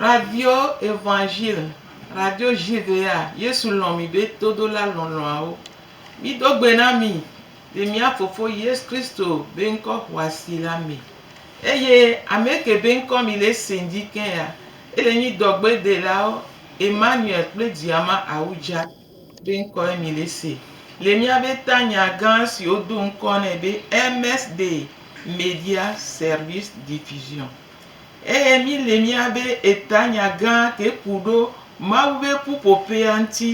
Radio Evangile, Radio Judea, Yesu lɔ̃ mi be todola lɔlɔ̃awo. Mido gbe na mi le mía Fofo Yesu Kristo be ŋkɔ xɔasi la me. Eye ame ke be ŋkɔ mi le ese dzi ke ya, ele nyi dɔgbedelawo Emmanuel kple Diama Awudja, be ŋkɔe Milese, le míabe tanya gã si wodo ŋkɔ nɛ be MSD, Media Service Diffusion. Eye míle míabe etanya gã ke ku ɖo Mawu be ƒuƒoƒea ŋuti.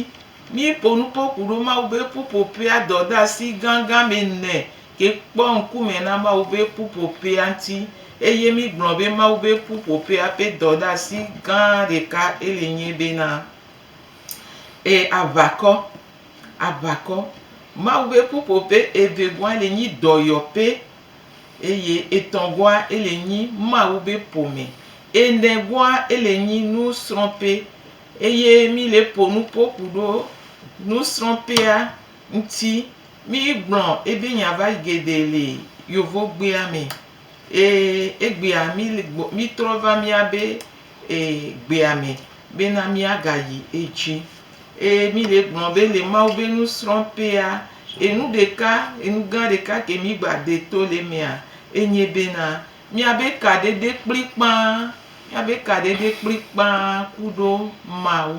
Míeƒo nu kpɔ ku ɖo Mawu be ƒuƒoƒea dɔdeasi gãgã me ne Ke kpɔ ŋkume na Mawu ƒe ƒuƒoƒea ŋuti, eye mígblɔ be Mawu ƒe ƒuƒoƒea ƒe dɔdeasi gã ɖeka eli nye bena, E aʋakɔ, aʋakɔ. Mawu ƒe ƒuƒoƒe evegɔa eli nyi dɔyɔƒe, eye etɔ̃gɔa eli nyi Mawu ƒe ƒome, enegɔa eli nyi nusrɔ̃ƒe, eye míle ƒo nuƒo ku ɖo nusrɔ̃ƒea ŋti mi yi gblɔ ebi nya va geɖe le yovo gbea me e egbea mi le gbɔ mi trɔ va mia be e gbea me be na mia ga yi edzi e mi le gblɔ be le mawu be nu srɔ ƒea enu ɖeka enu gã ɖeka ke mi gba de to le mea enye be na mia be kaɖeɖe kplikpaa mia be kaɖeɖe kplikpaa ku ɖo mawu.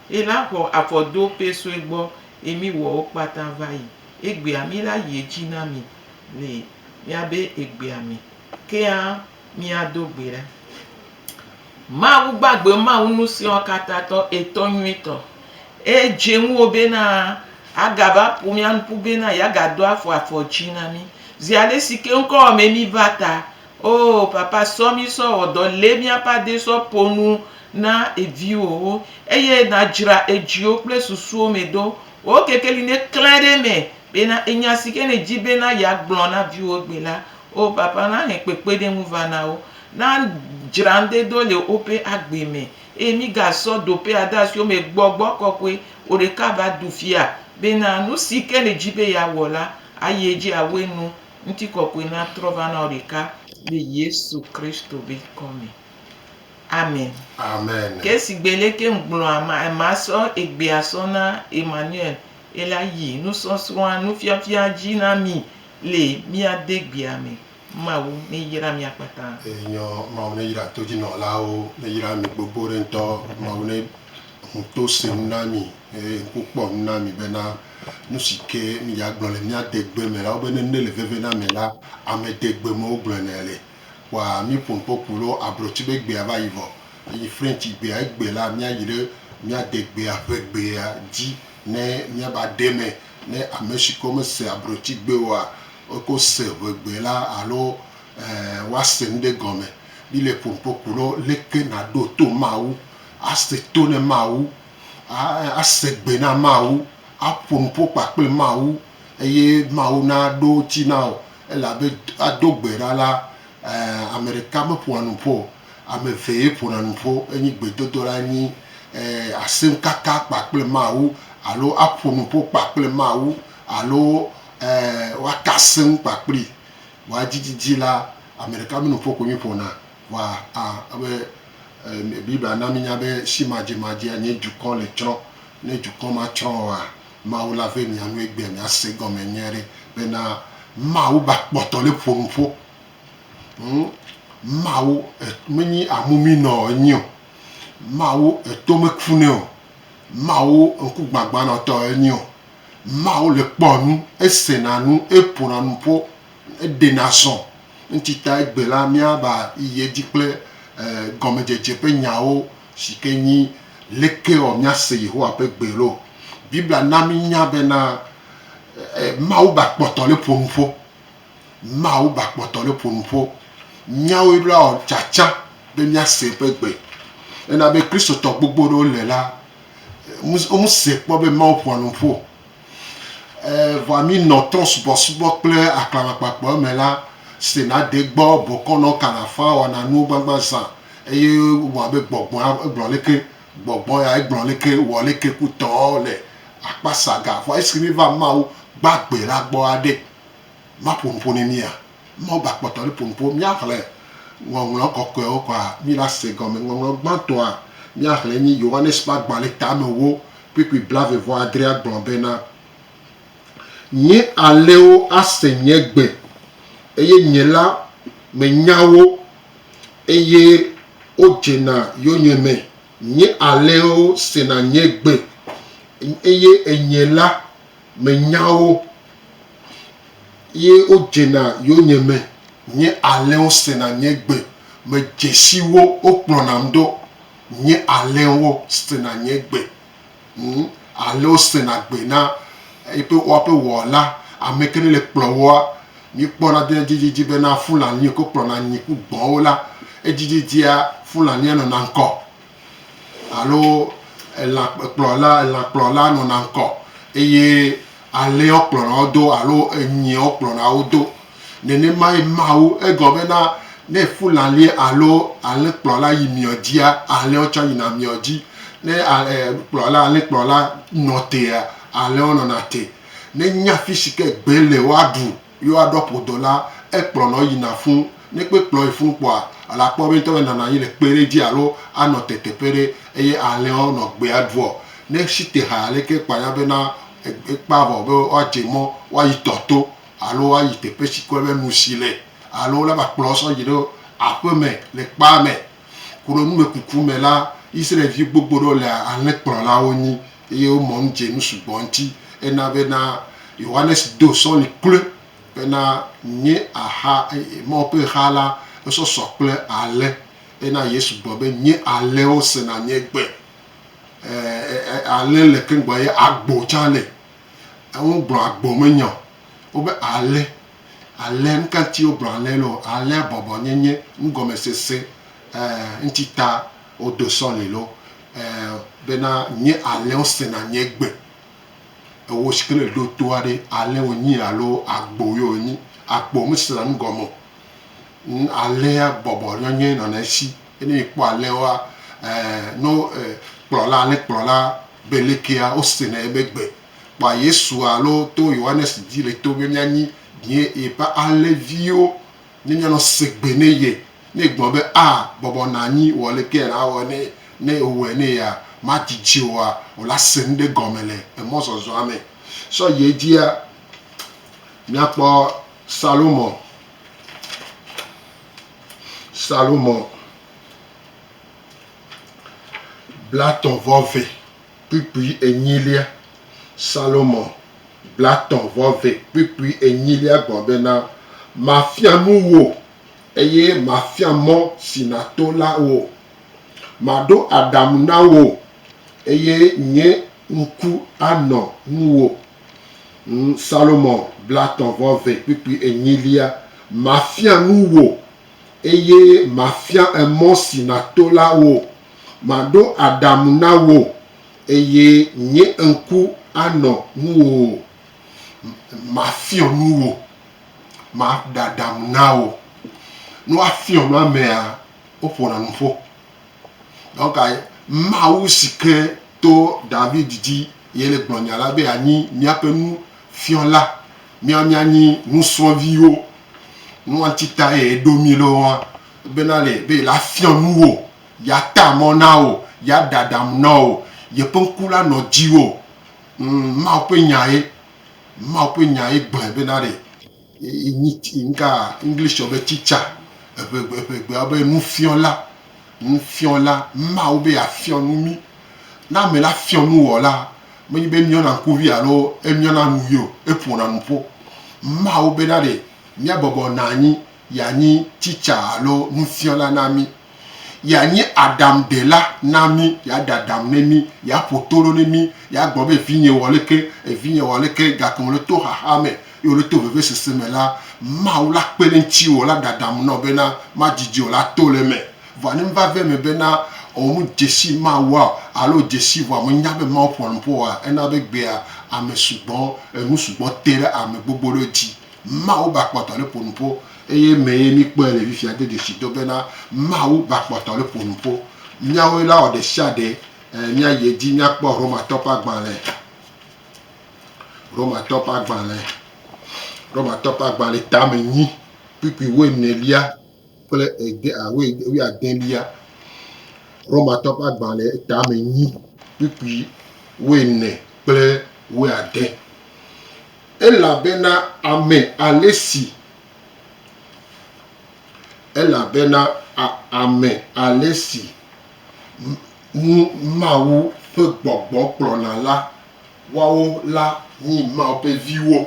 Yi la xɔ afɔ do pɛ sue gbɔ yi mi wɔ wo kpata va yi egbea mi la yi edzi na mi le mia be egbea me. Kea mi a do gbe ɖa. Mawu gbagbe Mawu nusiɔ kata tɔ etɔ nyui tɔ. E dze ŋuwo be na a ga va ƒo mia nuƒu be na ya ga do afɔ afɔ dzi na mi. Zi alesi ke ŋkɔ wɔ me mi va ta. Oh papa sɔ mí sɔ wɔ dɔ lé míaƒe adé sɔ ƒo nu na eviwowo eye na dzra edziwo kple susuwo me do wò kekeli ne klẽ ɖe eme bena enya si ke ne dzi bena ya gblɔ na viwo gbe la oh papa na he kpekpeɖeŋu va na wo na dzra ŋde do le woƒe agbe me eye mí ga sɔ doƒea de asi wo me gbɔ gbɔ kɔkɔe wò ɖeka va ɖu fia bena nu si ke ne dzi be ya wɔ la ayi edzi awɔe nu Ŋutikɔkɔe natrɔ va na wò ɖeka le Yesu Kristo be ŋkɔ me. Amen. Amen. Ke sigbe lé ke ŋgblɔ ama, ema sɔ egbea sɔ na Emmanuel, ela yi nusɔsrɔ̃a, nufiafia dzi na mi le mía degbea me. Mawu neyra mia kpata. Enyɔ, Mawu neyra todzinɔlawo, neyra mi gbogbo ɖe ŋutɔ. Mawu ne ŋu to se nu na mi. Eye wokpɔ nu na mi bena, nu si ke míagblɔ le mía degbe me la, wobe nene le veve na mi la, ame degbe me wogblɔ nɛ le. Kpɔa mí Pompokpu lɔ ablɔtsi be gbea va yi vɔ. Eyi Frɛntsi gbea, egbe la, míayi ɖe mía degbea ƒe gbea dzi ne míava aɖe me. Ne ame si ke mese ablɔtsi gbe oa, eko se ŋe gbe la alo ẽ woase nu ɖe gɔme. Míle Pompokpu lɔ, leke naɖo to Mawu, ase to ne Mawu ase gbe na Mawu, aƒo nu ƒo kpakple Mawu eye Mawu naɖo ŋuti na wò elabe ado gbe ɖa la, ame ɖeka meƒona nu ƒo o, ame eve ye ƒona nu ƒo. Enye gbedodoɖa enye asẽkaka kpakple Mawu alo aƒo nu ƒo kpakple Mawu alo woaka asẽ nu kpakplii. Vɔa edzidzi la, ame ɖeka me nuƒo koe mí ƒona. Wa a be e Biblia na mi nya be si ma dze ma dzea nye dukɔ le tsrɔ. Ne dukɔ ma tsrɔ oa, Mawu la ve mia nu egbea mia se gɔme nyuie ɖe be na Mawu ba kpɔtɔ le ƒo nu ƒo. Hm Mawu e me nyi amu mi nɔ e nyi o. Mawu e to me ku nɛ o. Mawu ŋku gbagbã nɔ tɔ e nyi o. Mawu le kpɔ nu, e se na nu, e ƒo na nu ƒo. eɖena zɔ. Eŋti ta egbe la, míava yi edzi kple gɔmedzedze ƒe nyawo si ke nyi Lekewɔ Míase Yehowa ƒe Gbe Ɖo? Biblia na mínya bena Mawu ba kpɔtɔ le ƒo nu ƒo. Mawu ba kpɔtɔ le ƒo nu ƒo. Míawoe ɖo awɔ tsatsa be míase eƒe gbe. Ena be Kristotɔ gbogbo ɖewo le la, womese kpɔ be Mawu ƒoa nu ƒo o. Vɔa mí nɔ trɔ̃subɔsubɔ kple aklamakpakpɔ eme la, sena de gbɔ bɔkɔ nɔ kalafa wɔna nuwo gbagba zã eye wɔa be gbɔgbɔa egblɔ leke gbɔgbɔ ya egblɔ leke wɔ leke ku tɔ le akpa sa ga. Vɔa esi mí va Mawu gbagbe la gbɔ a ɖe, ma ƒo nuƒo ne mía? Mawu ba kpɔtɔ ɖe ƒo nuƒo. Mía xle ŋɔŋlɔ kɔkɔewo kɔa, mí la se gɔme. Ŋɔŋlɔ gbãtɔa mía xle enye Yohanes ƒe agbalẽ tame wo Kpukpui blaeve-vɔ-adrea gblɔ bena, Nye alẽwo ase nye gbe, eye nye la menya wo, eye wodzena yonyeme. Nye alẽwo sena nye gbe, eye enye la menya wo, eye wodzena yonyeme. Nye alẽwo sena nye gbe, medze si wo, wokplɔnam ɖo. nye alẽwo sena nye gbe, ŋu alẽwo sena gbe na eƒe woaƒe wɔla. Ame kae le kplɔ woa? Míkpɔna ɖe edzi dzidzi bena Fulani yi ke kplɔna nyi ku gbɔwo la, edzi dzidzia Fulania nɔna ŋkɔ alo elã kplɔla elãkplɔla nɔna ŋkɔ eye. Alẽa wokplɔna wo do alo enyia wokplɔna wo do. Nenemae Mawu, egɔme be na ne fulani alo alẽkplɔla yi mia dzia, alẽwo tsã yina mia dzi. Ne kplɔla, alẽkplɔla nɔ tea, alẽwo nɔna te. Nenya fisi ke gbe le woaɖu. Yo a ɖɔ ƒo dɔla e kplɔ nɔ yi na fun. Nɛ kpe kplɔ yi fun kpɔa, a la kpɔ be ŋtɔ be nana yi le kpe ɖe dji alo a nɔ te teƒe ɖe. Eye ahlɛn ɔ, nɔ gbe a ɖuɔ, nɛ shi te ha aleke kpa nya be na e kpa vɔ be wa dje mɔ wa yi tɔ to alo wa yi teƒe shi kɔɛ be nu shi le alo wo la va kplɔ sɔ yi ɖo aƒe me le kpa me. Kuɖo numekuku me la, Izraɛlvi gbogbo ɖewo le ahlɛn kplɔlawo nyi. Eye wo mɔnu dze nu sugbɔ ŋuti. Ena be na Yohanes do sɔli kloe be na nye axa, Mawu ƒe xa la, esɔ sɔ kple ale. Ena Yesu gblɔ be nye alewo sena nye gbe. E, ale le keŋgbɔ eye agbo tsã le. Eŋu gblɔ agbo me nya o. Wobe ale, ale, nu ka ŋuti wo gblɔ ale le o? Alea bɔbɔ nye nye nugɔmesese e, ŋuti ta wo do sɔli lo. Ɛɛ, bena nye alẽwo sena nye gbe. Ewò si ke le ɖo toa ɖe, alẽ wònyi alo agbo ye wònyi? Agbo mesena nu gɔme o. Ŋ, alẽa bɔbɔ nɔ nye nɔnɔɛsi. Ye ne mìkpɔ alẽwoa, ɛɛ, no e, kplɔla, alẽkplɔla be lekea, wosena yebe gbe. Kpɔa Yesua alo to Yohanes dzi le to be mìanyi, ɖie, yeƒe alẽviwo. Ne mianɔ segbe ne ye, ne egblɔ be, A, bɔbɔ nɔ anyi, wɔ aleke nàwɔ ne ne ewɔe ne yea, madidi oa, wòle ase nu ɖe gɔme le emɔzɔzɔa me. Sɔ yi edzia, míakpɔ Salomo. Salomo blatɔ vɔ ve. kpukpui enyilia. Salomo blatɔ̃ vɔ ve kpukpui enyilia gɔ̃ bena, Mafia nu wò, eye mafia mɔ si nàto la wò. Maɖo aɖaŋu na wò, eye nye ŋku anɔ ŋuwò. Ŋ, Salomo blatɔ̃ vɔ ve kpukpui enyilia, Mafia nu wò, eye mafia emɔ si nàto la wò. Maɖo aɖaŋu na wò, eye nye ŋku anɔ ŋuwò. Mafiɔ nu wò, maɖe aɖaŋu na wò. Ne woafiɔ nu amea, woƒona nu ƒo. Donc, Mawu si ke to David dzi ye le gblɔ nya la be yeanyi míaƒe nufiɔla, míawo míanyi nusrɔ̃viwo. Nu ŋuti tae eɖo mí ɖo wa Bena nɛ be yeafiɔ nu wò, yeata mɔ na wò, yeaɖe aɖaŋu na wò, yeƒe ŋku la nɔ dziwò. Ŋ, Mawu ƒe Nya ye. Mawu ƒe Nya ye gblɔe bena ɖe. Yi, nyi, yi ŋkaa, Englishɔ be teacher, eŋegbe, eŋegbea be nufiɔla, nufiɔla. Mawu be yeafiɔ nu mí. Ne ame la fiɔ nu wòa la, menye be emiɔna ŋkuvi alo emiɔna nuyi o, eƒona nuƒo. Mawu bena ɖe míabɔbɔ nɔ anyi Yeanyi titsa alo nufiɔla na mí. Yeanyi aɖaŋudela na mí. Yeaɖe aɖaŋu ne mí. Yeaƒo to ɖo ne mí. Yeagblɔ be, Vinye, wɔ leke? Vinye, wɔ leke? Gake wòle to xaxa me ye wòle to vevesese me la, Mawu la kpe ɖe ŋutiwò, wòla ɖe aɖaŋu na wò bena madidi o, la to le eme. Vɔa ne meva ve eme bena ò medze si Mawua o alo ò dze si vɔa mènya be Mawu ƒoa nu ƒo oa, ena be egbea ame sugbɔ, enu sugbɔ te ɖe ame gbogbo ɖewo dzi. Mawu ba kpɔtɔ le ƒonuƒo. Eye mee míkpɔe le fifia do dzesi do bena Mawu ba kpɔtɔ le ƒonuƒo. Míawoe la wɔ ɖesiaɖe míayi edzi míakpɔ Romatɔ ƒe agbalẽ. Romatɔ ƒe agbalẽ. Romatɔ ƒe agbalẽ tame nyi kpukpui wuenelia. kple ede a wui wuiadelia, Romatɔ ƒe agbalẽ tame nyi kpukpui wuiene kple wuiade. Elabena ame ale si elabena a ame ale si ŋu Mawu ƒe gbɔgbɔ kplɔna la woawo la nyi Mawu ƒe viwo,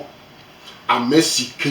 ame si ke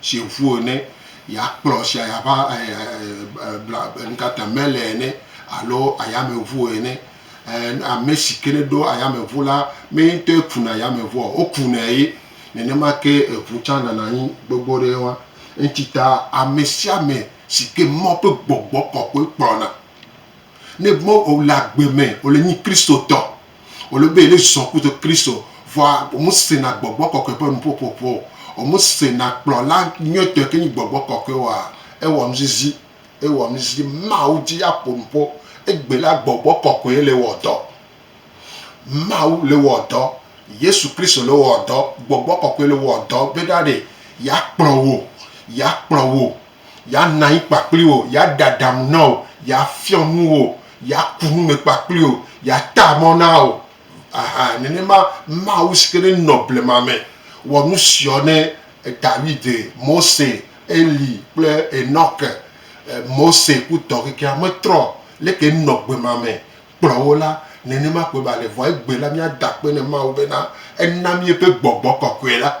si ŋu ene, ya kplɔ sia ya ƒe e e nuka te mele ene alo ayameŋu ene. E ame si ke ne ɖo ayameŋu la mee ŋutɔe kuna ayameŋua o, wokunɛ ye. Nenema ke eŋu tsã nana anyi gbogbo ɖe wa. Eŋuti ta ame sia ame si ke Mawu ƒe gbɔgbɔ kɔkɔe kplɔna ne Mawu wòle agbe me wòle nyi Kristotɔ Wòle be yele zɔn kudo Kristo, vɔa womesena gbɔgbɔ kɔkɔe ƒe nuƒoƒoƒo o. Womesena kplɔla nyuitɔe ke nyi gbɔgbɔ kɔkɔe oa? Ewɔ nuzizi. Ewɔ nuzizi. Mawu di aƒo nu ƒo. Egbe la gbɔgbɔ kɔkɔe le wɔ dɔ. Mawu le wɔ dɔ. Yesu Kristo le wɔ dɔ. Gbɔgbɔ kɔkɔe le wɔ dɔ be ɖa ɖe yeakplɔ wò. Yeakplɔ wò. Yeanɔ anyi kpakpliwò, yeaɖe aɖaŋu na wò, yeafiɔ nu wò, yeaku nu me kpakpliwò, yeata mɔ na wò. Ɛhɛ, nenema Mawu si ke ɖe nɔ blema me wɔ nu siɔ ne Dawid, Mose, Eli kple Enɔke, Mose ku tɔ kekea metrɔ o, leke enɔ gbema me kplɔ wo la, nenema koe ba le. Vɔa egbe la, míada akpe na Mawu bena ena mí eƒe gbɔgbɔ kɔkɔe la.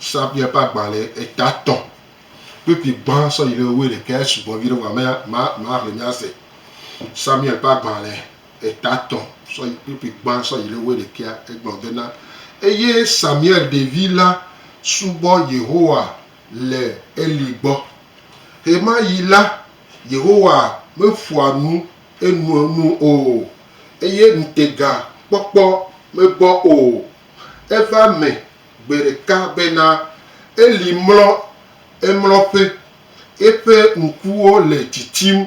Sabia ƒe agbalẽ eta tɔ̃ kpekpe gbã sɔ yi ɖe wuiɖekɛ sugbɔ vi ɖe vɔ ame ma ma xle mía se. Samuel ƒe agbalẽ eta tɔ̃ sɔ yi kpekpe gbã sɔ yi ɖe wuiɖekɛ egblɔ bena eye Samuel ɖevi la subɔ Yehowa le Eli gbɔ. Ɣemaɣi la, Yehowa meƒoa nu Enua nu o, eye ŋutega kpɔkpɔ megbɔ o. Eva eme gbe ɖeka bena, Eli mlɔ emlɔƒe, eƒe ŋkuwo le tsitsim,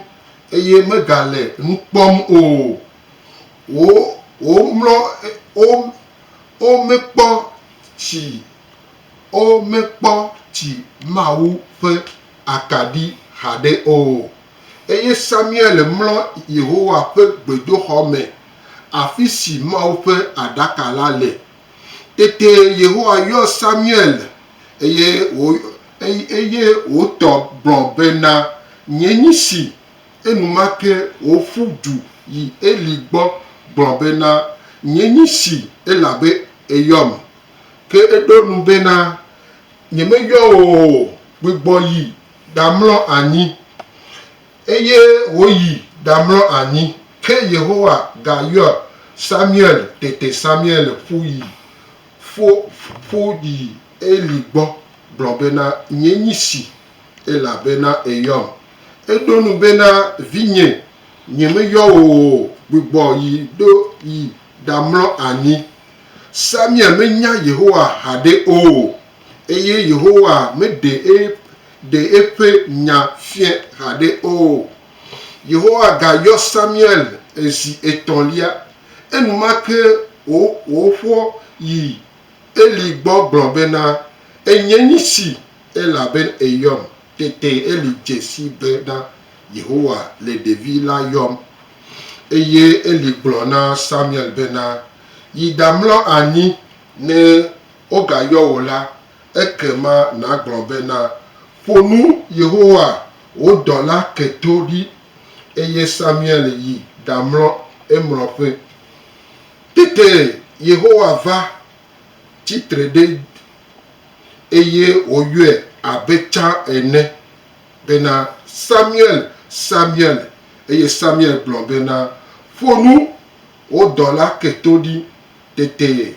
eye megale nu kpɔm o. Wo, womlɔ, wo, womekpɔ tsi, womekpɔ tsi Mawu ƒe Akaɖi haɖe o. eye Samuel mlɔ Yehowa ƒe gbedoxɔ me, afi si Mawu ƒe aɖaka la le. Tete Yehowa yɔ Samuel, eye wò, eye wòtɔ gblɔ bena, Nye nyi si. Enumake wòƒu du yi Eli gbɔ gblɔ bena, Nye nyi si, elabe èyɔm. Ke eɖo eŋu bena, Nyemeyɔ wò o, gbugbɔ yi. ɖamlɔ anyi, eye wòyi ɖamlɔ anyi. Ke Yehowa gayɔ Samuel. Tete Samuel ƒu yi ƒu ƒu yi Eli gbɔ gblɔ bena, Nyee nyi si, elabena èyɔm. Eɖo ŋu bena, Vinye, nyemeyɔ wò o, gbugbɔ yi ɖo yi ɖamlɔ anyi. Samuel menya Yehowa haɖe o. Eye Yehowa meɖe eƒe nya fiae haɖe o. Yehowa gayɔ Samuel zi etɔ̃lia. Enumake wòƒoɔ yi Eli gbɔ gblɔ bena, Enyee nye si, elabe èyɔm. Tete Eli dze sii bena Yehowa le ɖevi la yɔm. Eye Eli gblɔ na Samuel bena, Yi ɖamlɔ anyi ne wogayɔ wò la, ekema nàgblɔ bena, Ƒo nu Yehowa, wò dɔla ke to ɖi. Eye Samuel yi ɖamlɔ emlɔƒe. Tete Yehowa va tsi tre ɖe eye wòyɔe abe tsã ene bena, Samuel, Samuel! Eye Samuel gblɔ bena, Ƒo nu, wò dɔla ke to ɖi. Tete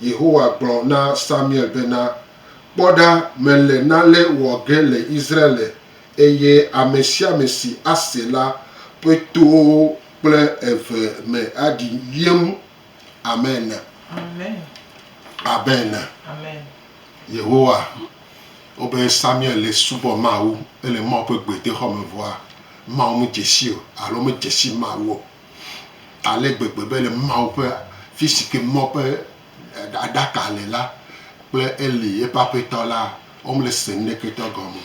Yehowa gblɔ na Samuel bena, Kpɔ ɖa, mele nane wɔ ge le Israel, eye ame sia ame si ase la ƒe towo kple eve me aɖi wiem. Amen! Amen! Yehowa wɔ be Samuel le subɔ Mawu, ele Mawu ƒe gbedoxɔ me vɔa, Mawu medze sii o, alo medze si Mawu o. ale gbegbe be le Mawu ƒe afi si ke mɔ ƒe aɖaka le la kple Eli, eƒe aƒetɔ la, womele se nuɖeketɔ gɔme o.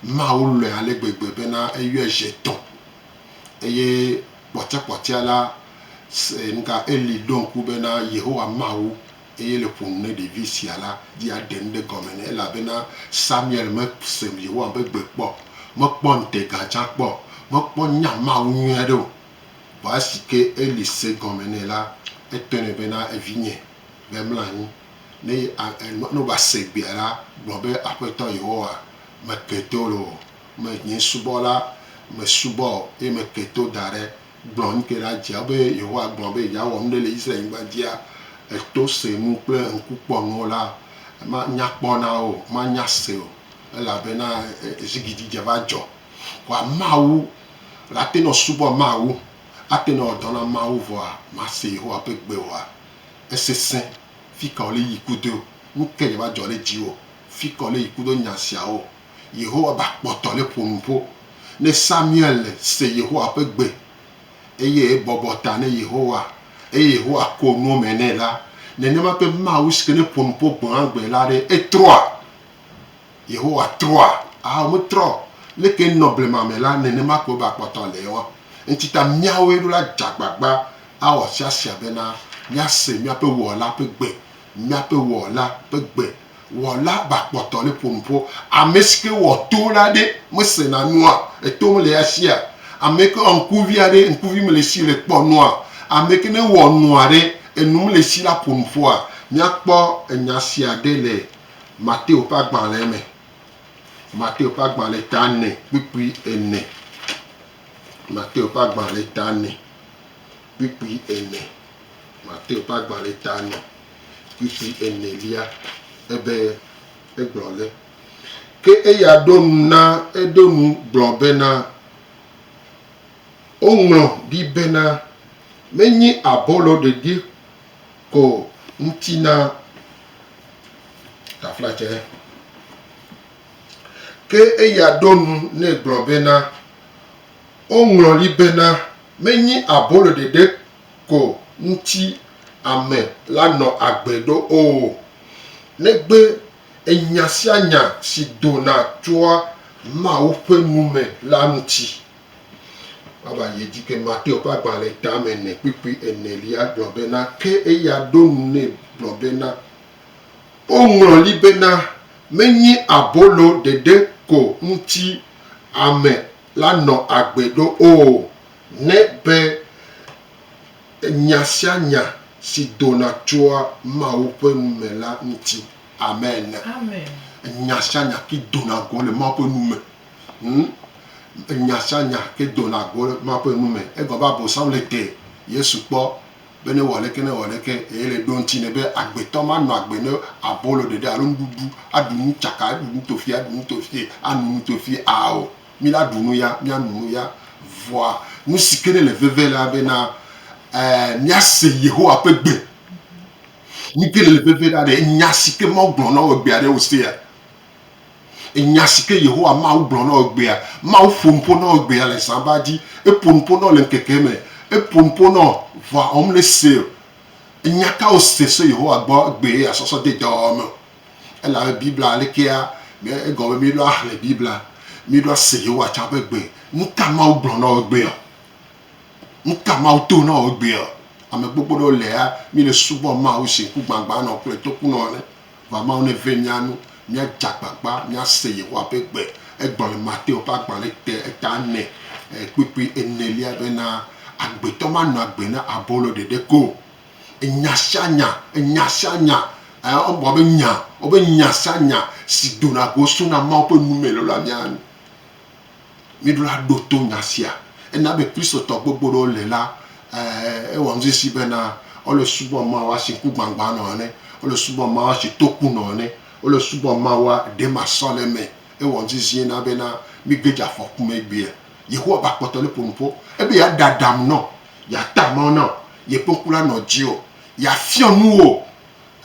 Mawu lɔ̃e ale gbegbe bena eyɔe zi etɔ̃. Eye kpɔtɔekpɔtɔea la, se, nuka, Eli ɖo ŋku bena Yehowa Mawu eye le ƒo nu ne ɖevi sia la, di aɖe nu ɖe gɔme nɛ, elabena Samuel mese Yehowa ƒe gbe kpɔ o, mekpɔ ŋutega tsã kpɔ o, mekpɔ nya Mawu nyui aɖe o. Vɔ esi ke Eli se gɔme nɛ la, etɔe nɛ bena, Evinye, va mlɔ anyi, ne ne wòase egbea la, gblɔ be, Aƒetɔ Yehowa, meke to loo, menye subɔla, mesubɔ eye meke to da ɖe Gblɔ nuke ɖa, Dzea be Yehowa gblɔ be yeawɔ nuɖe le Israel-nyigba dzia? Èto se nu kple ŋkukpɔnuwo la, manya kpɔ na wo o, manya se o, elabena zigidi dze va dzɔ. Ko ameawo la ate ŋu asubɔ Mawu, ate ŋu awɔ dɔ na Mawu, vɔa mase Yehowa ƒe gbe oa? Esesẽ! Fika wòle yi ku do? Nuke dze va dzɔ ɖe dziwò? Fika wòle yi ku do nya siawo? Yehowa ba kpɔtɔ le ƒo nuƒo ne Samuel se Yehowa ƒe gbe eye ebɔbɔ ta ne Yehowa eye Yehowa ko nuwo me nɛ la, nenema ke Mawu si ke ne ƒo nuƒo gbeagbe la ɖe, etrɔa? Yehowa trɔa? Ao, metrɔ o. Leke enɔ blema me la, nenema koe ba kpɔtɔ le ema. Eŋuti ta míawoe ɖo la dze agbagba awɔ asiasia bena míase míaƒe Wɔla ƒe gbe, míaƒe Wɔla ƒe gbe Wɔla bakpɔtɔ le ƒo nu ƒo. Ame si ke wɔ to la ɖe mesena nua? Eto mele ya sia. Ame yi ke wɔ ŋkuvi aɖe, ŋkuvi mele esi le kpɔ nua? Ame yi ke ne wɔ nu aɖe, enu mele esi la ƒo nu ƒoa? Míakpɔ enya sia ɖe le Mateo ƒe agbalẽ me. Mateo ƒe agbalẽ ta ene kpukpui ene. Mateo ƒe agbalẽ ta ene kpukpui ene. Mateo ƒe agbalẽ ta ene. Ɣleti enelia ebe egblɔ le. Ke eya ɖo nu na eɖo nu gblɔ bena, Woŋlɔ ɖi bena, Menye abolo ɖeɖi ko ŋuti na taflatse. Ke eya ɖo nu nɛ gblɔ bena, Woŋlɔ ɖi bena, Menye abolo ɖeɖe ko ŋuti ame la nɔ agbe ɖo o. Negbe enya sia nya si dona tsoa Mawu ƒe nu me la ŋuti. Woava yi edzi be Mateo ƒe agbalẽ tame ene kpukpui enelia gblɔ bena, Ke eya ɖo ŋu nɛ gblɔ bena, Woŋlɔ li bena, Menye abolo ɖeɖe ko ŋuti ame la nɔ agbe ɖo o, ne be nya sia nya si dona tsoa Mawu ƒe nu me la ŋuti. Amen. Nya sia nya ke dona go le Mawu ƒe nu me. Nya sia nya ke dona go le Mawu ƒe nu me. Egɔme be Abosam le te Yesu kpɔ. be newɔ aleke newɔ aleke, ele ɖo ŋuti nɛ be agbetɔ manɔ agbe ne abolo ɖeɖe alo nuɖuɖu, aɖu nu tsaka, aɖu nu tofie, aɖu nu tofie, ano nu tofie a o. Mí la ɖu nu ya, míanu nu ya. Vɔa nu si ke ne le veve la be na e míase Yehowa ƒe gbe. Nu ke ne le veve la ɖe, nya si ke Mawu gblɔ na wò egbea ɖe wòsea? Enya si ke Yehowa Mawu gblɔ na wò egbea. Mawu ƒo nu ƒo na wò egbea le zã ba dzi. Eƒo nu ƒo na wò le ŋkeke me. Eƒo nu ƒo na wò ʋɔa wɔm le Seir. Nya ka wòse so Yehowa gbɔ egbee asɔsɔ de dɔwɔwɔ me o. Elabe Biblia le kea me egɔme míɖo axlẽ Biblia, míɖo ase Yehowa tsã ƒe gbe. Nu ka Mawu gblɔ na wò egbea? Nu ka Mawu to na wò egbea? Ame gbogbo ɖewo lea, míle subɔm Mawu zi ŋkugbagbãnɔ kple tokunɔ ene. Vamao ne vɛ mía nu, míadze agbagba míase Yehowa ƒe gbe. Egblɔ le Mateo ƒe agbalẽ te eta ene kpukpui enelia bena, Agbetɔ manɔ agbe na abolo ɖeɖe ko o. Enya sia nya, enya sia nya, ẽ, woagblɔ be nya, wobe nya sia nya si dona go sona Mawu ƒe nu mee lɔlɔ̃a mía nu. Míɖola ɖo to nya sia. Ena be Kristotɔ gbogbo ɖewo le la, e, ewɔ ŋsisi bena wole subɔm Mawu asi ŋkugbagbã nɔ ene, wole subɔm Mawu asi toku nɔ ene, wole subɔm Mawua ɖemasɔleme. Ewɔ ŋsisie na bena míge dze afɔku me egbea. Yehowa va kpɔtɔ le ƒo nu ƒo ebe yeade aɖaŋu na wò, yeata mɔ na wò, yeƒe ŋku la nɔ dziwò, yeafiɔ nu wò,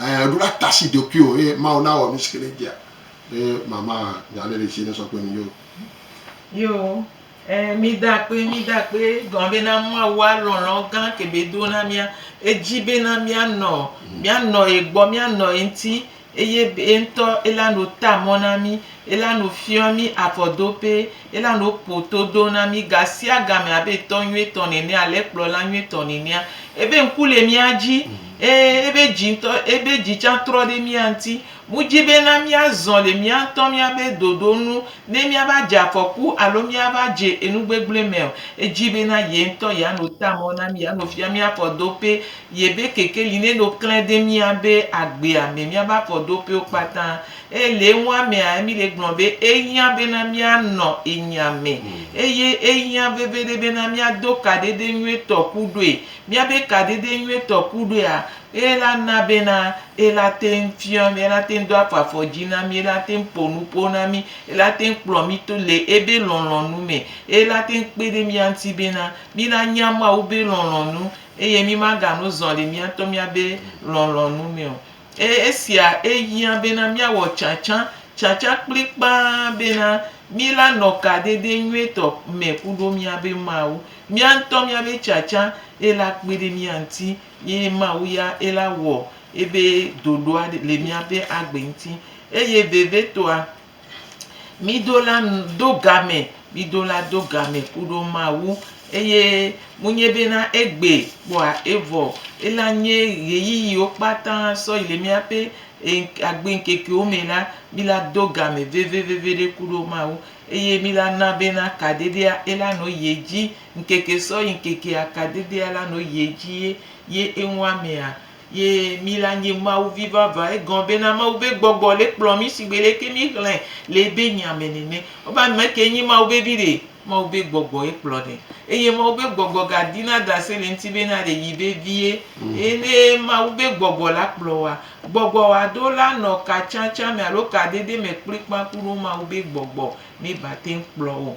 ẽ, ɖo la ta asi ɖokuiwò eye Mawu nawɔ nusi ke nèdia. Eye mama nya aɖe le esi nesɔ kple mi yo. Yo, ẽ, mída akpe, mída akpe gɔme be na Mawua lɔlɔ̃ gã ke be do na mía. Edi be na míanɔ, míanɔ ye gbɔ, míanɔ ye ŋuti eye be ye ŋutɔ ele anɔ ta mɔ na mí, ele anɔ fiɔ mí afɔdoƒe, ele anɔ ƒo todo na mí gasiagame abe tɔ nyuitɔ nene ale kplɔla nyuitɔ nenea. Ebe ŋku le mía dzi eye ebe dzi ŋutɔ, ebe dzi tsã trɔ ɖe mía ŋuti. Wodi bena míazɔ le mía ŋutɔ míaƒe ɖoɖo nu ne míava dze afɔku alo míava dze enu gbegblẽ me o. Edi bena ye ŋutɔ yeano ta mɔ na mí, yeano fia mí afɔɖoƒe, yeƒe kekeli neno klẽ ɖe míaƒe agbea me, míaƒe afɔɖoƒewo kpata. Eye le enua mea, Emily gblɔ be, Ehiã bena míanɔ enya me, eye ehiã veviɖe bena míado kaɖeɖe nyuitɔ ku ɖoe. Míabe kaɖeɖe nyuitɔ ku ɖoea, Eye la na bena ela teŋ fiɔ mí, ela teŋ do afɔ afɔ dzi na mí, ela teŋ ƒo nuƒo na mí, ela teŋ kplɔ mí to le ebe lɔlɔ̃nu me, eye la teŋ kpe ɖe mía ŋuti bena mína nya Mawu be lɔlɔ̃nu eye mímagano zɔ le mía ŋutɔ mía be lɔlɔ̃nu me o. Eye esia ehiã bena míawɔ tsãtsã, tsãtsã kplikpaa bena míla nɔ kadede nyuietɔ me kuɖo mía be Mawu. Mía ŋutɔ mía be tsãtsã ela kpe ɖe mía ŋuti Ye Mawu ya ye la wɔ ebe ɖoɖoa le míabe agbe ŋuti. Eye vevitɔa, mído la do game, mído la do game kuɖo Mawu. Eye menye bena egbe kpɔa evɔ o. Ela nye ɣeyiɣiwo kpata sɔ yi le míaƒe agbe ŋkekewo me la, mí la do game veveveveɖe kuɖo Mawu. Eye mí la na bena kaɖiɖia ye la nɔ yi edzi. Ŋkeke sɔ yi ŋkeke akadedea la nɔ yi edzi ye ye eŋu amea ye mí la nye Mawu vi vava. Egɔme bena Mawu be gbɔgbɔ le kplɔ mí shigbe leke mí xlɛ le ebe nya me nene. Wobe ame ke nye Mawu be vi ɖe? Mawu be gbɔgbɔ ye kplɔ ɖe. Eye Mawu be gbɔgbɔ ga di na dase le ŋuti bena ɖe yi be vie. Eye ne Mawu be gbɔgbɔ la kplɔ woa, gbɔgbɔ wa ɖo la nɔ ka tsã tsã me alo ka dede me kplikpã kuɖo Mawu be gbɔgbɔ me ba te ŋu kplɔ o.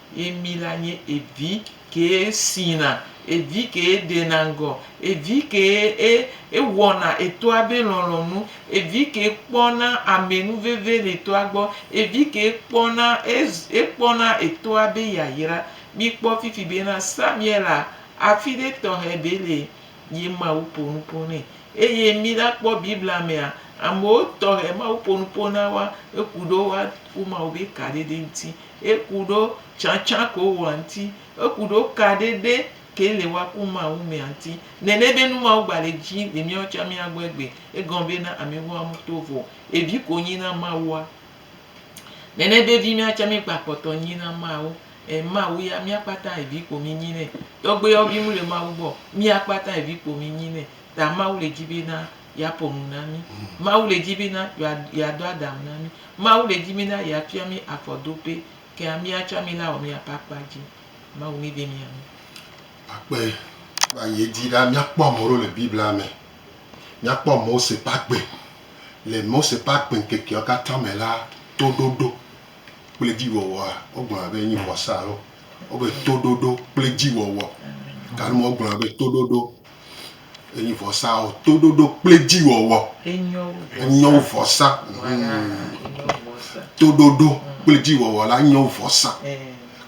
Ye mi la nye evi kee sina, evi kee ɖena ŋgɔ, evi kee e ewɔna etɔa be lɔlɔ̃nu, evi kee kpɔna ame nu veve le etɔa gbɔ, evi kee kpɔna ez ekpɔna etɔa be yayra. Mikpɔ fifi bena Samuela afi ɖe tɔxɛ be le ye Mawu ƒo nu ƒo nɛ. Eye mi la kpɔ Biblia mea, amewo tɔxɛ Mawu ƒo nu ƒo na woa, eku ɖo woa ƒo Mawu be ka ɖe ɖe ŋuti. Eku ɖo tsãtsã ko wo anti. Eku ɖo ka ɖe ɖe ke le wa ku ma wu me anti. Nene be nu ma wo gba le ji le mia wo tsa mia gbɔ egbe. Egɔn be na ame wo amu to vɔ evi ko nyi na ma wua. Nene be vi mia tsa mi gba kpɔtɔ nyi na ma wo. E ma wu ya mia kpata evi ko mi nyi ne. Tɔgbe yɔ vi mu le ma wu gbɔ. Mia kpata evi ko mi nyi ne. Ta ma wu le ji be na yeaƒo nu na mí. Mawu le dzi bena yewa, yeadɔ Adam na mí. Mawu le dzi bena yeafia mí afɔ do pɛ. Kea mía tsɔ amila wɔ mía ƒe akpa dzi. Mawu mi be mía nu. Akpe. Kpa ye di ɖa míakpɔ ame ɖewo le Biblia me. Míakpɔ Mose ƒe agbe. Le Mose ƒe agbe ŋkekeawo katã me la, toɖoɖo kple dziwɔwɔa, wogblɔna be enye vɔsa alo wogblɔ be toɖoɖo kple dziwɔwɔ. Gake womegblɔna be toɖoɖo Enyi vɔsaa o. Toɖoɖo kple dziwɔwɔ. Enyo wu vɔsa. Enyo wu vɔsa. Toɖoɖo kple dziwɔwɔ la enyo wu vɔsa.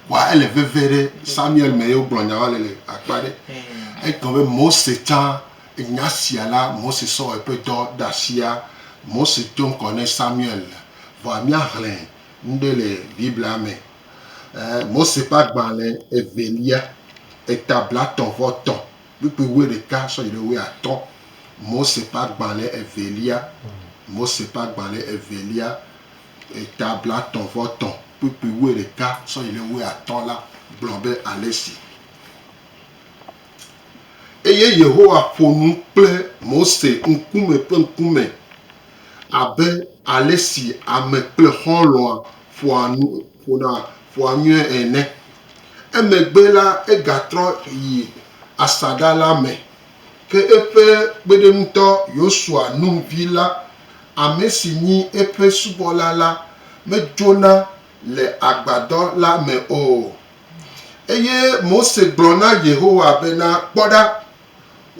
Wa ele veve ɖe Samuel me ye wogblɔ nya wa le le akpa ɖe. Egblɔ be Mose tsã nya sia la Mose sɔ wɔ eƒe dɔ ɖe asia. Mose do ŋkɔ ne Samuel. Vɔa míaxlẽ nu ɖe le Biblia me Ɛɛ Mose ƒe agbalẽ evelia, eta blatɔ̃ vɔ tɔ̃, kpukpui wuiɖeka sɔ yi ɖe wuiatɔ̃. Mose ƒe agbalẽ evelia, Mose ƒe agbalẽ evelia, eta blatɔ̃ vɔ tɔ̃, kpukpui wuiɖeka sɔ yi ɖe wuiatɔ̃ la gblɔ be ale si. Eye Yehowa ƒo nu kple Mose ŋkume kple ŋkume abe ale si ame kple xɔlɔ̃a ƒoa nu, ƒona ƒua nyuie ene. Emegbe la, egatrɔ yi asaɖa la me, ke eƒe kpeɖeŋutɔ Yosua, Nun vi la, ame si nyi eƒe subɔla la, medzona le agbadɔ la me o. Eye Mose gblɔ na Yehowa bena, Kpɔ ɖa,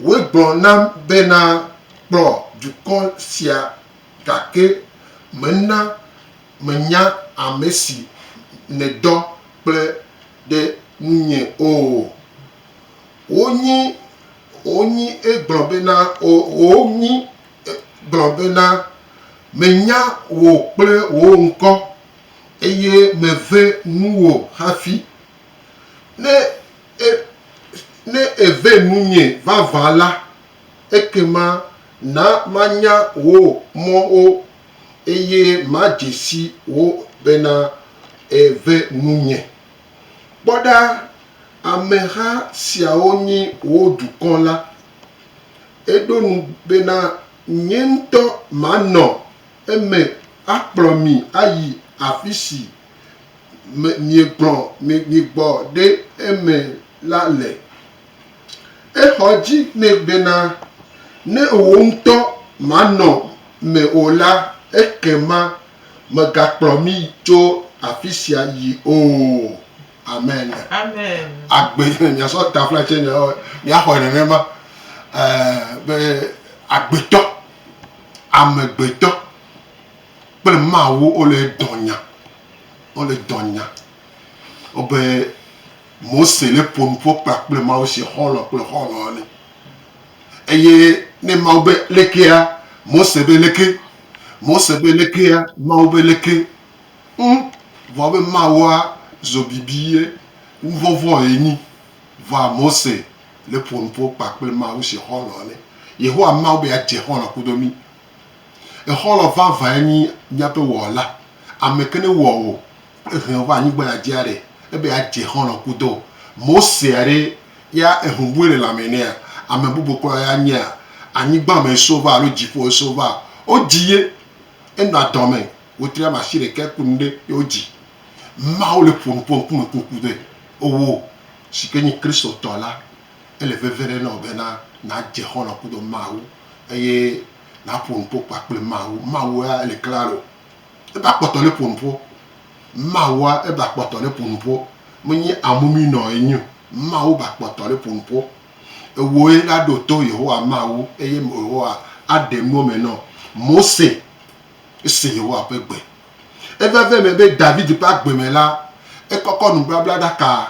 wòegblɔ nam bena, Kplɔ dukɔ sia, gake mena Mènya ame si nèdɔ kple ɖe ŋunye o. Wonyi, wonyi egblɔ bena, o, wonyi egblɔ bena, Menya wò kple wò ŋkɔ, eye meve nuwò hafi. Ne e, ne ève nunye vavã la, ekema na manya wò mɔwo. Eye madze si wo bena, Ève nunye. Kpɔ ɖa, ameha siawo nyi wò dukɔ la. Eɖo nu bena, Nye ŋutɔ manɔ eme akplɔ mi ayi afi si miegblɔ migbɔ ɖe eme la le. Exɔ dzi nɛ bena, Ne wò ŋutɔ manɔ me o la, ekema mègakplɔ mí tso afi sia yi o. Amen. Amen. Agbe, miasɔ tafla tsɛ mia, miaxɔe nenema, ɛɛ, be agbetɔ, amegbetɔ kple Mawu wole dɔnya, wole dɔnya. Wobe. Mose le ƒo nu ƒo kpla kple Mawu se xɔlɔ̃ kple xɔlɔ̃ ene. Eye ne Mawu be lekea, Mose be leke, Mose be lekea, Mawu be leke, ŋ, vɔ be Mawua zo bibi ye, nuvɔvɔ̃ ye nyi. Vɔa Mose le ƒo nu ƒo kpla kple Mawu se xɔlɔ̃ ene. Yehowa Mawu be adze xɔlɔ̃ kudo mí. Exɔlɔ̃ vavãe nyi míaƒe Wɔla, ameke ne wɔa o Ehɛn ova anyigba ya djia ɖe ebe ya dje xɔlɔ kudo Mosea ɖe ya ehun bue le lãme nɛa? Ame bubu klɔ ya nyea? Anyigba me eso va alo djiƒo eso va? Wo dji ye. Enɔ adɔme wetri ame ashi ɖekɛ kpli nuɖe ye wo dji. Mawu le ƒo nu ƒe ŋkume kpli ŋkuve owo sike nyi Kristo tɔ la. Ele veve ɖe nɔwo bena na dje xɔlɔ kudo Mawu eye na ƒo nuƒo kpakple Mawu. Mawu ya ele klalo Ebe akpɔtɔ ne ƒo nuƒo. Mawua ebe akpɔtɔ ne ƒo nuƒo. Menye amumi nɔ enyo. Mawu be akpɔtɔ ne ƒo nuƒo. Ewoe la ɖo to Yehowa Mawu eye Yehowa aɖe nuwo me nɔ Mose. Ese Yehowa ƒe gbe. Eveve me be David ƒe agbe me la, ekɔkɔ nubablaɖaka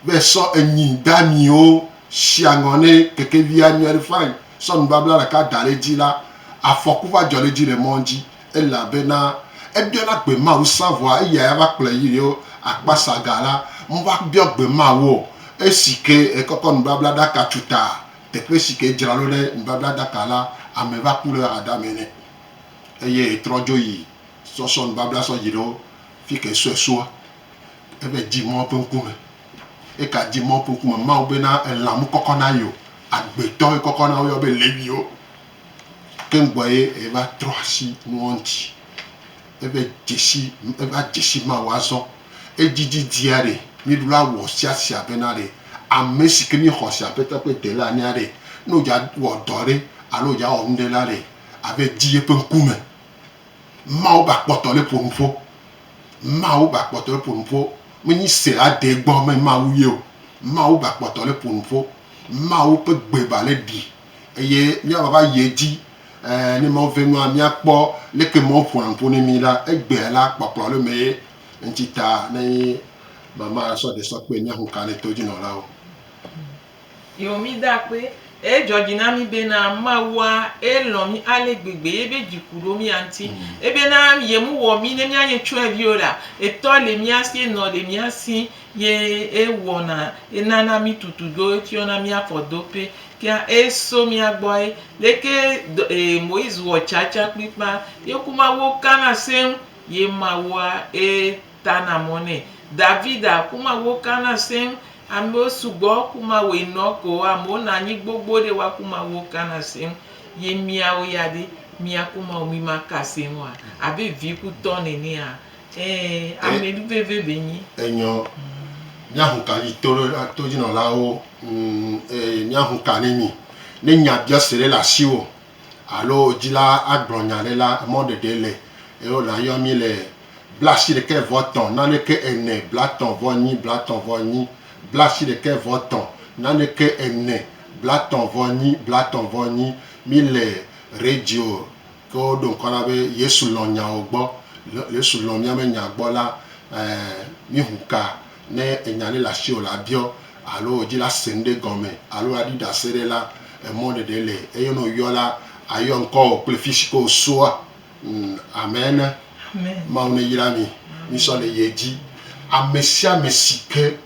be sɔ enyi damiwo sia ŋɔ ne kekevia nyɔ ɖi fain sɔ nubabla ɖeka da ɖe edzi la, afɔku va dzɔ ɖe edzi le mɔ dzi elabena ebiɔna gbe Mawu sã vɔa eya ya va kplɔe yi ɖo akpasa ga la me va biɔ gbe Mawu o esi ke ekɔkɔ nubabla ɖaka tsu ta teƒe si ke edzra ɖo ɖe nubabla ɖaka la ame va ku ɖe hadame nɛ eye trɔ dzo yi sɔ sɔ nubabla sɔ yi ɖo fike sɔe sua. Ebe, Dzi mɔ eƒe ŋkume. Eka dzi mɔ eƒe ŋkume. Mawu be na elã mu kɔkɔ na ye o. Agbetɔ ye kɔkɔ na wo yɔ be Leviwo. Ke ŋgbɔ ye eva trɔ asi nuwo ŋuti. Ebe, Dzesi, eva dzesi Mawu azɔ. Edzidzi dzia ɖe míɖo la wɔ sia sia be na ɖe ame si ke mí xɔ se Aƒetɔ ƒe Dela enea ɖe ne wodza wɔ dɔ ɖe alo wodza wɔ nuɖe la ɖe ave dzi yeƒe ŋkume. Mawu ba kpɔtɔ le ƒo nuƒo. Mawu ba kpɔtɔ le ƒo nuƒo. Me nyi se la de gbɔ me Mawu ye o. Mawu ba kpɔtɔ le ƒo nuƒo. Mawu ƒe gbe ba le ɖi eye mía va va yi edzi. Ẽ, ne Mawu ve nua, mía kpɔ leke Mawu ƒoa nu ƒo ne mí la, egbea la, kpɔkplɔ le me ye. Eŋuti ta ne mama sɔ ɖe sɔ kpe mía ŋukanɛ to dzi nɔlawo. Ye wo mí da akpe. Eye dzɔ dzi na mí be na Mawua e lɔn mí ale gbegbe ye be dzi ku ɖo mía ŋuti. Ebe na ye mu wɔ mí ne mía nye tsuɛvi o ɖa, e tɔ le mía si, e nɔ le mía si, ye e wɔ na, e na na mí tutu ɖo e fiɔ na mía fɔ do pe. Kea e so mía gbɔ e. Leke dɔ e Moise wɔ tsa tsa kplikpa. Ye ku Mawuo ka na seŋ ye Mawua e. Tana mɔ nɛ. Davida ku ma wo kana seŋ. Amewo sugbɔ ku ma woe nɔ ko amewo na anyi gbogbo ɖe wa ku ma wo kana seŋ. Ye miawo ya ɖe mia ku ma wo mi ma ka seŋ oa? Abe vi ku tɔ nenea? Ee, ame ɖu veve be nyi. Enyɔ, mia hu ka yi to ɖe to dzi nɔ la wo ŋ eye mia hu ka ne mi ne nya biɔse ɖe le asi wo. alo dzila agblɔ nya aɖe la, emɔ ɖeɖe le eye wòle ayɔ mí le blaasiɖekɛ vɔ tɔ̃ naneke ene blatɔ̃ vɔ nyi blatɔ̃ vɔ nyi blaasiɖekɛ vɔ tɔ̃ naneke ene blatɔ̃ vɔ nyi blatɔ̃ vɔ nyi. Míle radio ke woɖo ŋkɔ na be Yesu lɔ̃ nyawo gbɔ. Yesu lɔ̃ míaƒe nya gbɔ la, ɛɛ míxu ka. Ne ènya ɖe le asiwò la, biɔ, alo wò dzi la se nuɖe gɔme, alo aɖi ɖase ɖe la, emɔ ɖeɖe le, eye ne wòyɔ la, ayɔ ŋkɔwò kple fisi ke wòsoa. Ŋ, amɛ ne. Mawu ne yra mi. Misɔ le ye dzi. Amesiame si ke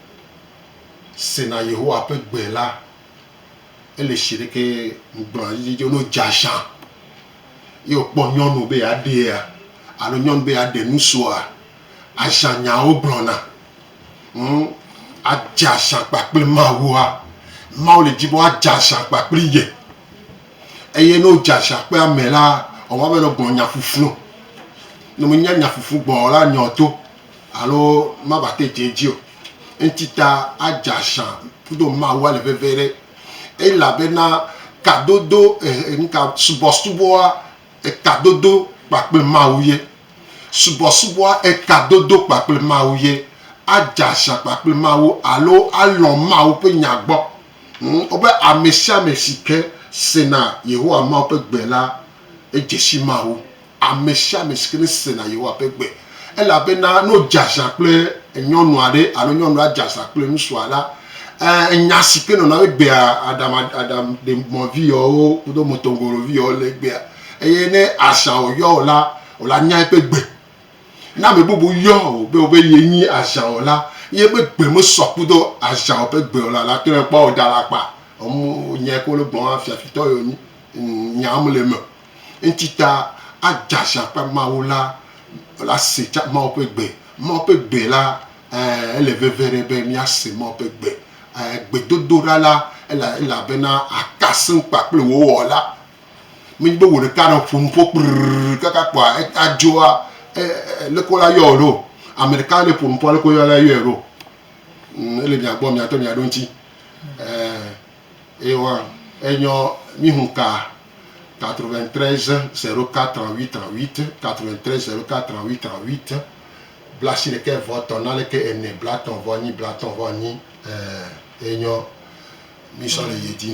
sena Yehowa ƒe gbe la, ele si ɖeke ŋugblɔna dzidzidzie o. Ne wòdze aʒã, ye wòkpɔ nyɔnu be yeaɖea, alo nyɔnu be yeaɖe nu soa, Àzã nyawo gblɔna. Ŋ, àdze azã kpakple Mawua. Mawu le di be woadze azã kpakple ye. Eye ne wodze azã kple ame la, ewɔna abe nɔ gbɔ̃ nya ƒuƒlu o. Ne menya nya ƒuƒlu gbɔ̃ o la, nya o to alo mava te dze edzi o. Eŋti ta adze azã kudo Mawua le veviɖe. Elabena kadodo, e, e, nuka, subɔsubɔa, Etadodo kpakple Mawu ye. Subɔsubɔa etadodo kpakple Mawu ye. Adze axa kpakple Mawu alo alɔ̃ Mawu ƒe Nya gbɔ. Wobe amesiame si ke sena Yehowa Mawu ƒe gbe la, edze si Mawu. Amesiame si ke nesena Yehowa ƒe gbe Elabena ne wodze aza kple nyɔnu aɖe alo nyɔnua dze aza kple ŋutsua la, nya si ke nɔna wo egbea aɖaŋaɖaŋaɖemɔviyawo kudo motongoloviyawo le egbea. Eye ne aza wòyɔ o la, o la nyae ƒe gbe. Ne ame bubu yɔ o be wobe ye nyi aza o la, ye ƒe gbe mesɔ kudo aza o ƒe gbe o la, la tɔe kpɔ o dala kpa. Nyae ke wole gblɔm hafi afitɔ ye wonyi. Nyaa mele eme o. Eŋti ta adzazã ƒe Mawu la ase Mawu ƒe gbe. Mawu ƒe gbe la, ɛɛ, ele veve ɖe be míase Mawu ƒe gbe. Ɛɛ, gbedodoɖa la, ele, ele abe na aka sẽŋ kpa kple wò Wɔla. Menye be wò ɖeka nɔ ƒo nu ƒo kprrrr kaka kpoa adzɔa, e, e, leke wola yɔ wò ɖo o. Ame ɖeka ne ƒo nu ƒoa, leke wola yɔe ɖo o. Ŋ, ele mia gbɔ mia tɔ mia ɖo ŋti. Ɛɛ. Ewa enyɔ mí hun ka 93 04 38 38, 93 04 38 38, blaasiɖekɛ vɔ tɔn na leke ene blatɔn vɔ nyi blatɔn vɔ nyi ɛɛ enyɔ mí sɔ le yedi.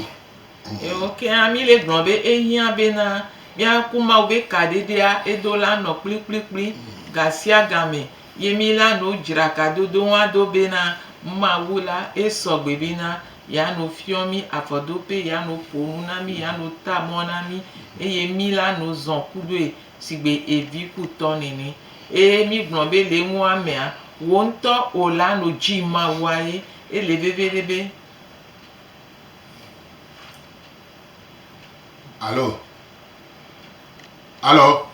Eo keŋ mí le gblɔ be ehiã be na mía ku Mawu be kaɖeɖea edo la nɔ kplikplikpli gasiagamɛ ye mí la nu dzrakadodo ŋua do be na Mawu la esɔ gbe be na ya no fiɔ mí afɔdope, ya no ƒo nu na mí, ya no ta mɔ na mí, eye mí la no zɔn kuɖoe sigbe evi ku tɔ nɛnɛ. Eye mí gblɔ be le eŋu amea, wò ŋutɔ ò la no dzi Mawua ye. Ele veviɖe be. Alo. Alo.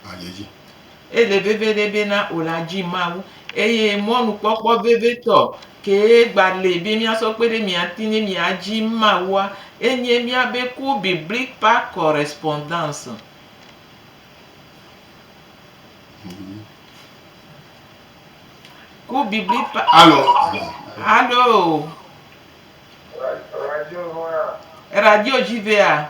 hadzedzi. Ele veviɖe bena wòla dzi Mawu, eye mɔnukpɔkpɔ vevitɔ kee gbali be míasɔ kpe ɖe mía ŋuti ne míadzi Mawua, enye míabe cours biblique par correspondance. Cours biblique par. Alo. Alo. Radio dzi vea.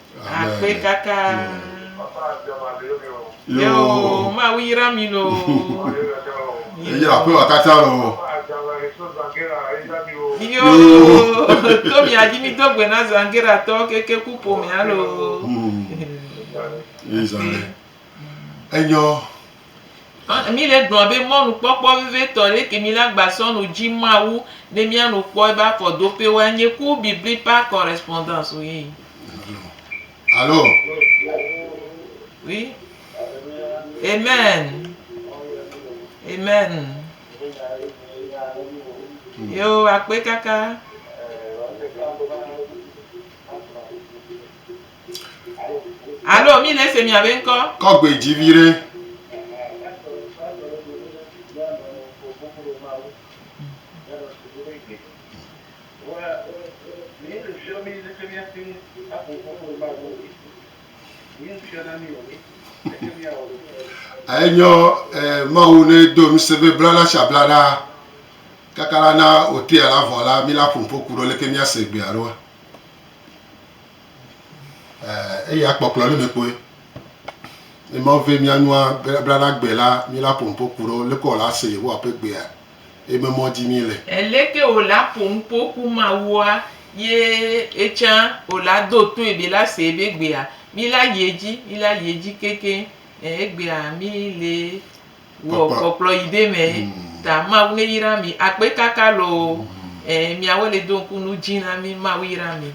Akpe kaka. Yo. Ma wi yira mi no. Eya akpe wa kata lo. Yo. To mi aji mi do gbe na zangera to keke ku po mi alo. Ezale. Enyo. Ã, mí le gblɔa be mɔnukpɔkpɔ vevitɔ ɖe ke mí la gba sɔ no ji Mawu ne mía nu kpɔ ebe afɔdoƒewo a nye ku bibli par correspondance o ye. Alo, Oui. Amen. Amen. Yo, akpe kaka. Alo mi le se mia be ŋkɔ. Kɔ gbe dzi viɖe. Enyɔ mawu ne do nu se be bla la sha bla ɖa kaka la na otea la vɔ la mi la ƒompo ku ɖo leke mia se gbea ɖoa. eh, eyi akpɔkplɔ le mekpoe ne ma ve mianua blaɖa gbe la mi la ƒo nuƒo ku ɖo leke wòla se yehowa ƒe gbea eye me mɔ dzi mi le Eleke wòla ƒo nuƒo ku Mawua ye etsã wòla do toe be la se ebe gbea mi la yi edzi mi la yi edzi keke eh, egbea mi le wɔ Kpɔkplɔ. kpɔkplɔ yi ɖe me ta Mawu ne yra mi akpe kaka loo eh, miawo le do ŋku nu dzi na mi Mawu yra mi.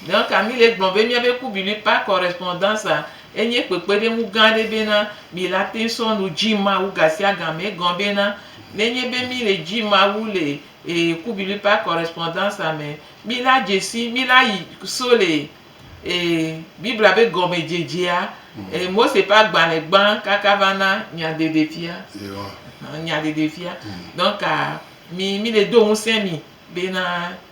Donc Camille gblɔ be míabe Kubili par correspondance-a enye kpekpeɖeŋu gã aɖe bena mi la te sɔ nu dzi Mawu gasiagame. Egɔ bena nenye be mi le dzi Mawu le Kubili par correspondance-a me, mi la dze si, mi la yi so le Biblia be gɔmedzedzea, Mose ƒe agbalẽ gbã kaka va na nyaɖeɖefia. Nyaɖeɖefia. Donc mi, mi le do ŋusẽ mi bena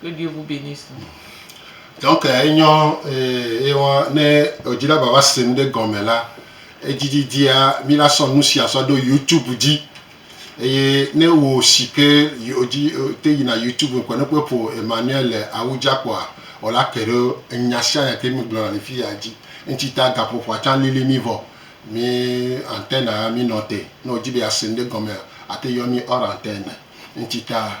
kple ɖoeŋu be ni su. Donc enyɔ ye wa ne edzi la vava se nu ɖe gɔme la edzi didia mi la sɔ nu sia sɔ ɖo youtube dzi eye ne wo si ke yodzi te yina youtube ŋkɔ ne kpe ƒo Emmanuel le awu dza kpɔa o la ke ɖo enya sia nya ke mi gblɔ na le fi ya dzi ŋtsi ta gaƒoƒoa tsa lili mi vɔ mi antenne a mi nɔ te ne odzi be ya se nu ɖe gɔmea ate yɔ mi hors antenne ŋtsi ta.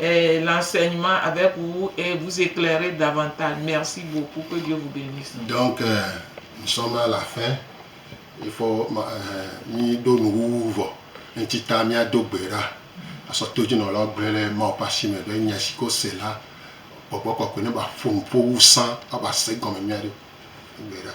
Eh, l'enseignement avec vous et vous éclairer davantage. Merci beaucoup, que Dieu vous benisse. Donc, nous sommes à la fin. Il faut mi do nu wuwu vɔ. Ŋti ta mia do gbe ɖa. Asɔ to dzi nɔ lɔ gblɔe le Mawu ƒe asi me be nya si ko se la gbɔgbɔ kɔkɔe ne ba ƒo nu ƒo wu sã aba se gɔme mia ɖe. Gbe ɖa.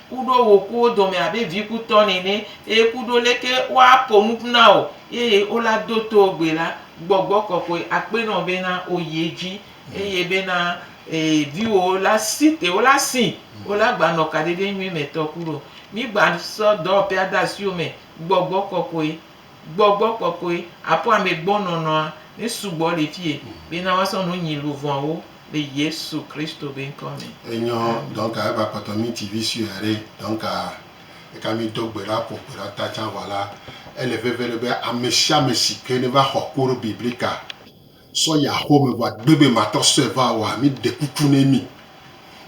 Ku ɖo wò ku wo dome abe vi ku tɔ nene, eye ku ɖo leke wo a ko nu ƒu na wò, eye wo la do to wò gbe la, gbɔgbɔ kɔkɔe a kpe nɔ be na wò yi edzi, eye be na ee vi wò wo la si te wo la si, wo la gba nɔ kaɖeɖe nyuie me tɔ ku ɖo. Mi gba sɔ dɔwɔƒea de asiwò me, gbɔgbɔ kɔkɔe. Gbɔgbɔ kɔkɔe aƒoa me gbɔ nɔnɔa ne sugbɔ le fie bena woasɔ nu nyi luvɔawo le Yesu Kristo be ŋkɔ me. Enyɔ donc a eva kpɔtɔ mi TV sue aɖe donc a eka mi do gbe la ƒo gbe la ta tsa vɔ la ele veve ɖe be amesiame sike ne va xɔ ku ɖo biblika. Sɔ yi axome vɔ agbe be matɔ sɔe va oa? Mi ɖe kuku ne mi.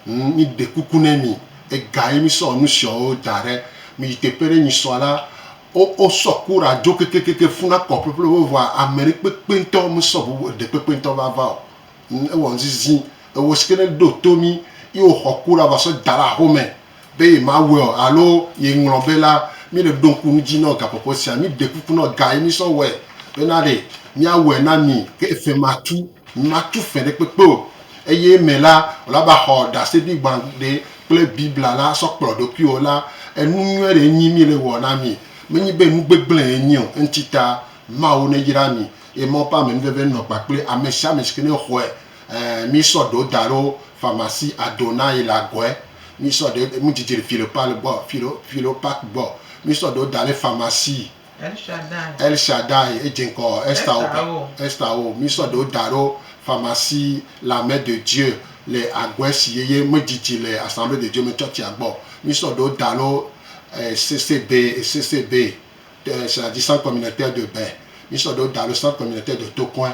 Ŋ, mi ɖe kuku ne mi. Ega ye mi sɔ nusiɔwo da ɖe. Mi yi teƒe ɖe nyi sɔ la, wo, wo sɔ kura dzo kekekeke funa kɔ ƒeƒleƒe vɔa amɛɖe kpekpe ŋtɔ me sɔ ŋu ɖe kpekpe ŋtɔ va va o. Ŋ, ewɔ ŋzizi. Ewo sike ne ɖo to mi yi wo xɔ kura va sɔ da ɖe axome be yemawɔe o alo yeŋlɔ be la, míele ɖo ŋku nu dzi nɔ gakpɔkpɔ sia. Míɖe kuku nɔ ga yi mísɔ wɔe bena ɖe míawɔe na mi. Ke efɛ matu, mimatu fɛ ɖekpekpe o, eye eme la, wòla be axɔ ɖaseɖi gbãgbe kple Biblia la asɔ kplɔ ɖokuiwò la, enu nyui aɖee nyi míele wɔ na mi. Menye be nu gbegblẽe enye o. Eŋuti ta, Mawu neyra mi, eye Mawu ƒe amenuveve nɔ kpakple ame sia ame si ke nexɔe. Ɛɛ, mí sɔ ɖewo da ɖo famasi Adonai le agɔɛ. Mí sɔ ɖe, mí djidji le Philopal gbɔ, Philo, Philopac gbɔ. Mí sɔ ɖewo da ɖe famasi. El Shaddai. El Shaddai, edje ŋkɔ Esther wo ba, Esther wo. Esther wo. Mí sɔ ɖewo da ɖo famasi La Main de Dieu le agɔɛ si yeye mí djidji le Assemblée de Dieu me tsɔtsia gbɔ. Mí sɔ ɖewo da ɖo ECCB, ECCB, Ecclesiastique Centre Communautaire de Bain. Mí sɔ ɖewo da ɖo Centre Communautaire de Tokoin.